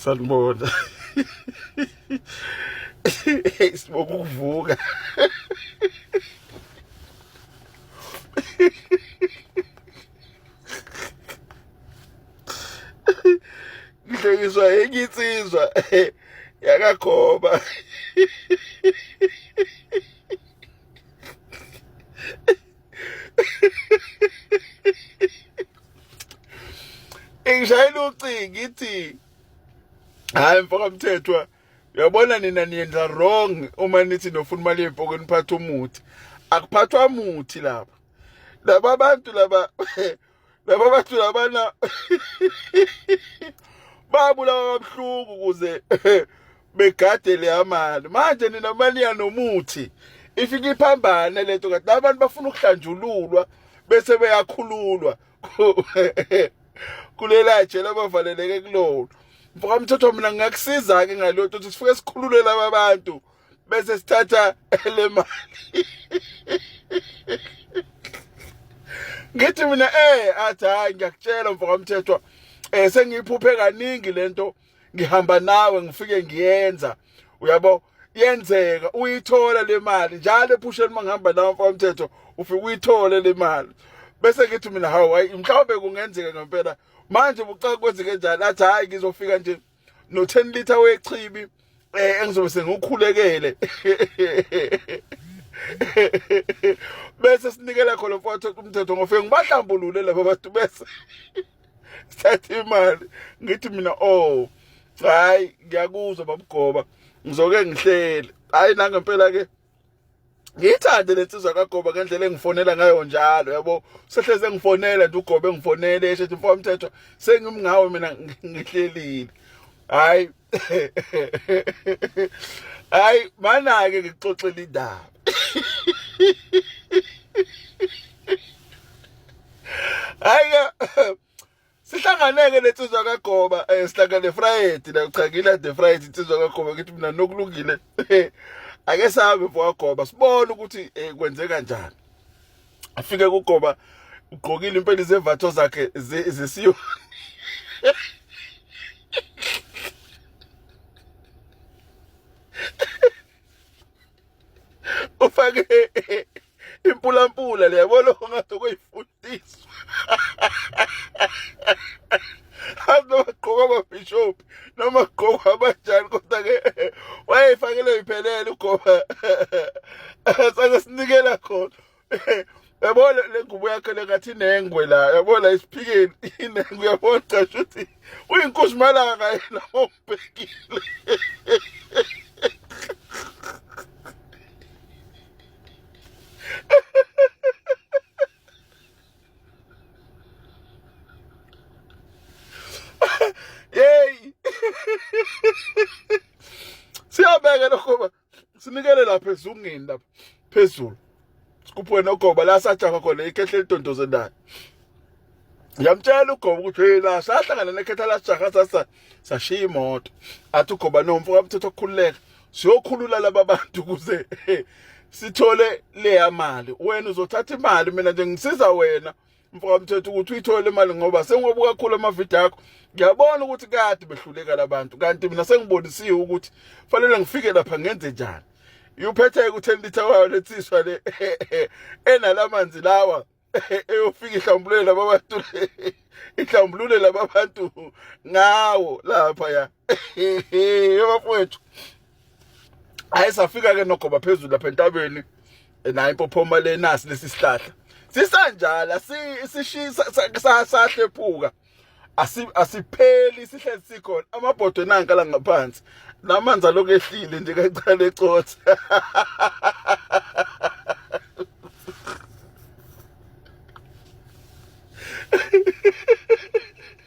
sanibona sibonga ukuvuka ngihlekiswa enye insizwa yakakhoba ingishayela ucingo ngithi hayi mfoka mthethwa uyabona nina niyenza wrong uma nithi nofuna imali yempokweni phatha umuthi akuphathwa muthi lapha laba bantu laba laba bathu labana babulawa kabuhlungu ukuze begade le amali manje nina mali yanomuthi ifike iphambane lento kanti abantu bafuna ukuhlanjululwa bese beyakhululwa kulela jela bavaleleke kulona mfoka mthotho mina ngingakusiza-ke ngaloyo ukuthi sifike sikhululele ababantu bese sithatha le mali ngithi mina eh athi hayi ngiyakutshela mfoka mthethwa eh sengiyiphuphe kaningi lento ngihamba nawe ngifike ngiyenza uyabo yenzeka uyithola le mali njalo ephusheni uma ngihamba nawe mfoka mthetho ufike uyithole le mali bese ngithi mina hawu hayi mhlawumbe kungenzeka ngempela manje bucaka kwenzeke njani athi hayi ngizofika nje no 10 liter wechibi eh engizobe sengikhulekele bese sinikela khona mfowethu umthetho ngofike ngibahlambulule laba bantu bese sithatha imali ngithi mina oh hayi ngiyakuzwa babugoba ngizoke ngihlele hayi nangempela ke ngiyithande le nsizwa kagoba ngendlela engifonela ngayo njalo yabo sehlezi engifonela nje ugobe engifonele eshethi mfo mthetho sengimngawe mina ngihlelile hayi hayi manake ngixoxela indaba hayi sihlanganeke lensizwa kagoba um eh, sihlangane friday la cha ngilade friday insizwa kagoba ngithi mina nokulungile ake sahambe mfokagoba sibone ukuthi um kwenze kanjani afike kugoba ugqokile impela izemvatho zakhe zesiyo ufake impulampula le yabo lokho ngathi kuyifundiswa noma kugqoka amabhishophi noma kugqoka abanjani kodwa ke wayeyifakele iphelele ugoba sake sinikela khona yabo le ngubo yakhe lengathi inengwe la yabo la isiphikeni inengwe yabo cishe ukuthi uyinkosi malanga yena ombhekile Yay! Siya bega no kuma. sinikele lapha ezungeni lapha phezulu sikuphuke nogoba la sajaha khona ikhehle lidondoze naye yamtshela ugoba ukuthi hey la sahlangana nekhetha lajaha sasa sashiya imoto athi ugoba nomfo kwamthetho okukhululeka siyokhulula laba bantu ukuze sithole leya mali wena uzothatha imali mina nje ngisiza wena mfoka mthetho ukuthi uyithole imali ngoba sengobu kakhulu amavidiyo akho ngiyabona ukuthi kade behluleka labantu kanti mina sengibonisiwe ukuthi fanele ngifike lapha ngenze njani yuphethe ku-ten litre wayo letsiswa le enala manzi lawa eyofika ihlambulule laba bantu ihlambulule laba bantu ngawo lapha ya bafowethu hayi safika ke nogoba phezulu lapha entabeni nayo impophoma le nasi lesi sihlahla sisanjala sishisa sahlephuka asipheli sihlezi sikhona amabhodwe nanka la ngaphansi namanzi alokhu ehlile nje kancane ecotha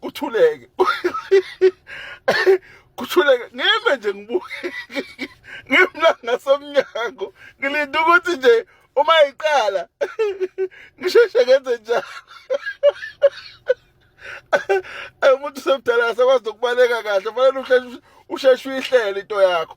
kuthuleke kuthuleke ngime nje ngibuke ngimla ngasemnyango ngilinda ukuthi nje uma iqala ngisheshe ngenze njalo umuntu semdala akasakwazi nokubaleka kahle fanele usheshe uyihlele into yakho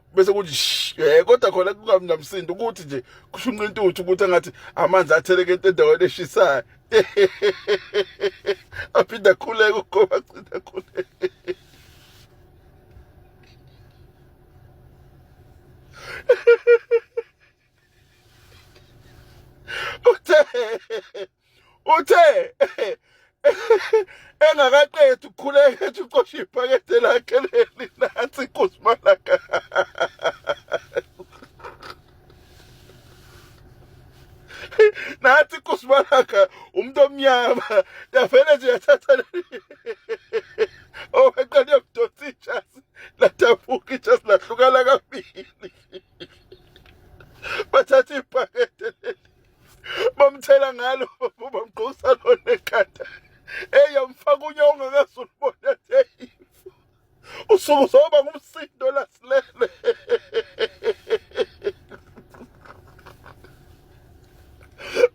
bese kuthi eh kodwa khona kungabi namsindo ukuthi nje kushunqa intuthu ukuthi engathi amanzi atheleke endaweni eshisayo aphinda khuleka ugoba cina khuleka Uthe uthe engakaqedi ukukhuleka ethi ucosha iphakethe lakhe leli nansi kusimalaka nathi kusimalaka umuntu omnyama yavele nje yathatha leli oweqale yokudonsa ijasi ladabuka ijasi lahlukana kabili bathatha iphakethe leli bamthela ngalo bamgqosa lona ekhanda eyi amfaka unya ongakazi ulibona eyi usuku zoba ngumsindo lasilele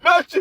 manje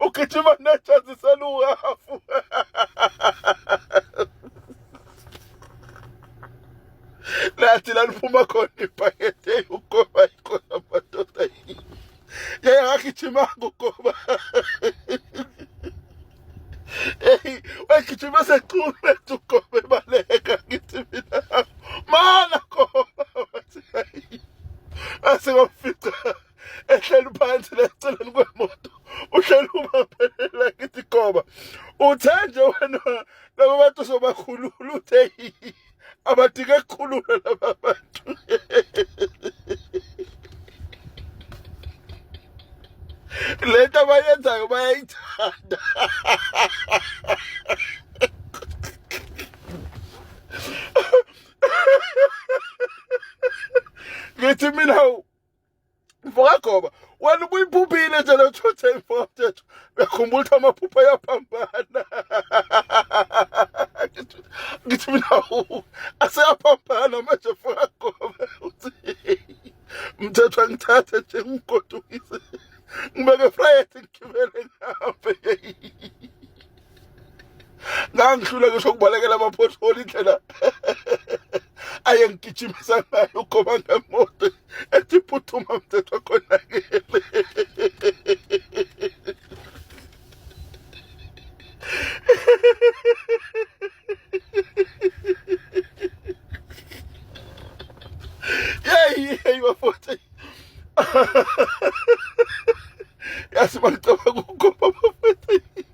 ugijima nejazi seluhafu lathi laliphuma khona ibhakede ugoba ikhona madoda yeye akagijimanga ugoba eyi wegijima secume ugoba ebaleka ngithi mina mana goba wathi ayi asingamfica ehleli phansi leceleni kwemoto uhleli umaphelela kithi goba uthe nje wena laba bantu sobakhulula uthe abadike kukhulula laba bantu le nto abayenzayo bayayithanda ngithi mina mfokagoba wena ubuyiphuphile nje le two ten four mthetho uyakhumbula ukuthi amaphupha ayaphambana ngithi mina aseyaphambana manje mfokagoba uthi mthetho angithathe nje ngigodukise ngibeke friday ngigibele ngihambe ngangihlula ngisho ukubalekela amaphotholi indlela ayengigijimisa ngayo ugoba ngemoto ethi phuthuma mthetho khonakele yeyi yeyi bafoti yazi bacabanga ukugoba bafoti